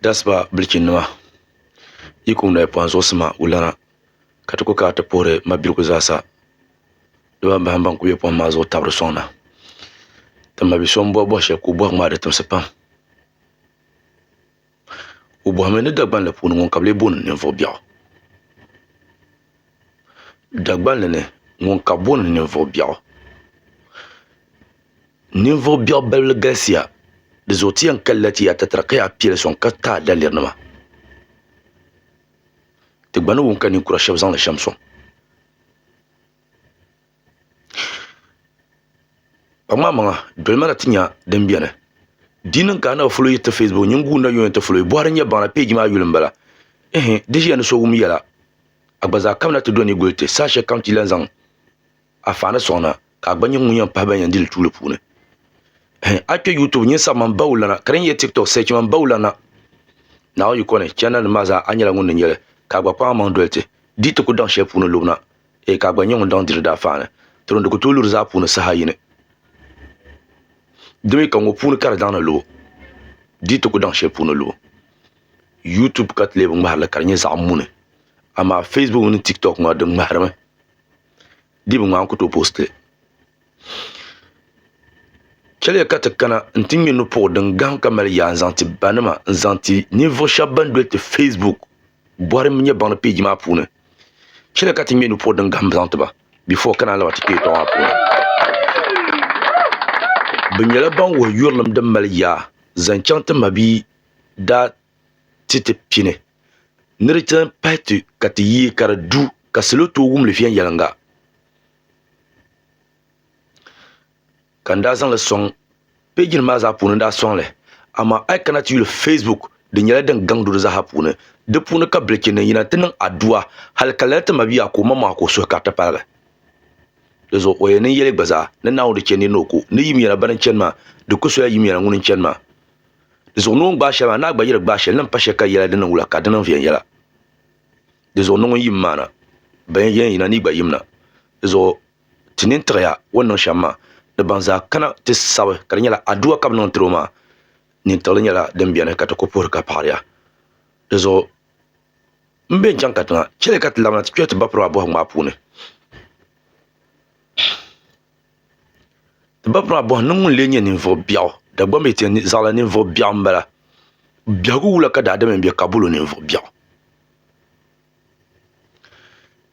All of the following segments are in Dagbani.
That's why bilichini nima yi kuli noli pɔhim zuɣusima wulana ka ti kuli kana ti puhiri mabiligu zaasa di baa bahi ban kuli be pɔhim maa zuɣu n tabili sɔŋda ka ma bi'so m bɔhi bɔhi shɛli ka o bɔhim maa di timisi pam o bɔhimi ni Dagbanli puuni ŋun ka bi lee booni ninvuɣu biɛɣu Dagbanli ni ŋun ka bi booni ninvuɣu biɛɣu. Ninvuɣ biɛɣu balli galisiya, di zuɣu ti yɛn kalila ti ya tatara ka yaa kpe li sɔŋ ka taai dalirinima. Ti gba ni wum ka ninkura shɛb zaŋ li shɛm sɔŋ. Kpaŋmaamaŋa dolima na ti nya din beni. Di yi niŋ ka a nabi foloyi ti Facebook, nyin guui nayuya nti foloyi, Buhari n-nyɛ baŋda peeji maa yuli m-bala. Ɛhɛn, di ʒiya ni so wum yɛla, a gba zaa kamina ti do ni guli ti, saha shɛlikam ti lan zaŋ. a faani sɔŋ na ka a gba nyɛ ŋun yɛn pahi ban yɛn dili tuuli puuni a kpɛ youtube nyɛ sabi man bawu lana ka din yɛ tiktok sɛchi man bawu lana naawuni yiko ni chɛnal nim maa zaa a nyɛla ŋun ni nyɛli ka a gba kpaŋ a maŋ doli ti di ti ku daŋ shɛli puuni lubina ee ka a gba nyɛ ŋun daŋ diri daa faani tiro di ku tooi luri zaa puuni saha yini di mi ka ŋɔ puuni ka di daŋ ni lubu di ti ku daŋ shɛli puuni lubu youtube ka ti leebi ŋmaharili ka di nyɛ zaɣ muni amaa facebook mini tiktok ŋɔ di ŋmaharimi dii bi ŋmaa n ku tooi poosti li chɛliya ka ti kana n ti ŋmɛ nupuɣu din gaham ka mali yaa n zaŋ ti ba nima n zaŋ ti ninvuɣu shab ban doli ti feesbuk bɔri nyɛ baŋdi peeji maa puuni chɛliya ka ti ŋmɛ nupuɣu din gaham zaŋ tiba bifo ka naan lahi ti kpɛ yɛltɔɣa maa puuni bi nyɛla ban wuhi yurilim din mali yaa zaŋ chɛŋ ti mabihi daa ti ti pini ni di chani pahi ti ka ti yii ka di du ka salo tooi wumli viɛnyɛliŋga ka n daa zaŋ li sɔŋ peeji nim maa zaa puuni n daa sɔŋ li amaa a yi kana ti yuli feesbuk di nyɛla din gaŋ duri zaa puuni di puuni ka bilichini nim yina n ti niŋ aduwa hali ka lala ti mabia ka o ma mɔɣu ka o suhu ka di ti paligi di zuɣu o yɛn niŋ yɛli gba zaa ni Naawuni di chɛ niri ni o ku ni yimyɛna bani n chani maa di ku sola yimyɛna ŋuni n chani maa Di zuɣu ni o ni gbaai shɛli maa, ni a gba yi di gbaai shɛli, ni n pa shɛli ka yɛla di niŋ wula, ka di niŋ viɛnyɛla. Di zuɣu ni ŋun yim maana, bɛn yɛn yina ni yi gba yimna. Di zuɣu ti nini tiɣi ya o ni niŋ shɛm maa, ni ban zaa kana ti sabi ka di nyɛla Adua ka bɛ niŋ tiri o maa, nintiɣili nyɛla din beni ka ti ku puhiri ka paɣiri ya. Di zuɣu m be n-chaŋ katiŋa, chɛliya ka ti labina ti kpɛri ti bapirimaa bɔhigu maa puuni. Ti ba pun a bɔhi ni ŋun lee nyɛ ninvuɣ biɛɣu? Dagbamba yi ti yɛn zaɣ la ninvuɣ biɛɣu m-bala. Biɛhigu wula ka daadam yɛn be ka bol o ninvuɣ biɛɣu?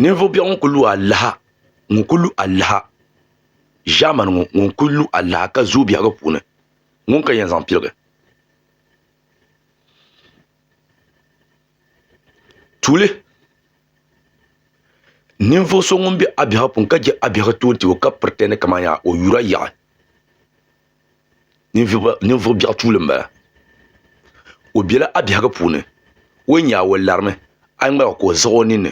Ninvuɣ biɛɣu ŋun kul lu alaha, ŋun kul lu alaha ʒiɛmani ŋɔ, ŋun kul lu alaha ka zooi biɛhigu puuni, ŋuni ka yɛn zaŋ piligi? Tuuli ninvuɣu so ŋun bɛ a biɛhigu puuni ka je a biɛhigu toon tibɔ ka piritɛndi kamani yaa o yura yaɣi ninvuɣu biɛhigu tuuli n bala o bɛla a biɛhigu puuni o ni yɛa o larimi a yi ŋmaligi ka o ziɣi o ninni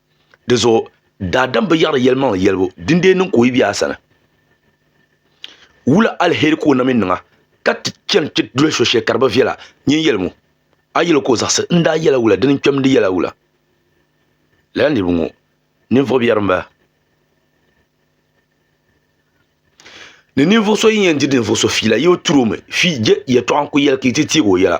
di zuɣu daadam bi yaɣiri yɛlimaŋli yɛlibu dindee niŋ ka o yi bɛ a sani wula alheri ka o na mi niŋa ka ti chani ti doli so shɛli ka di bi viɛla nyin yɛlimu a yɛl o ka o zaɣisi n daa yɛla wula dini n kpɛm di yɛla wula lala niriba ŋɔ ninvuɣ biɛri m-bala ni ninvuɣ so yi yɛn diri ninvuɣ so fiila yi bi turi o mi fii je yɛtɔɣa n-kuli yɛli ka yi ti teeg o yɛla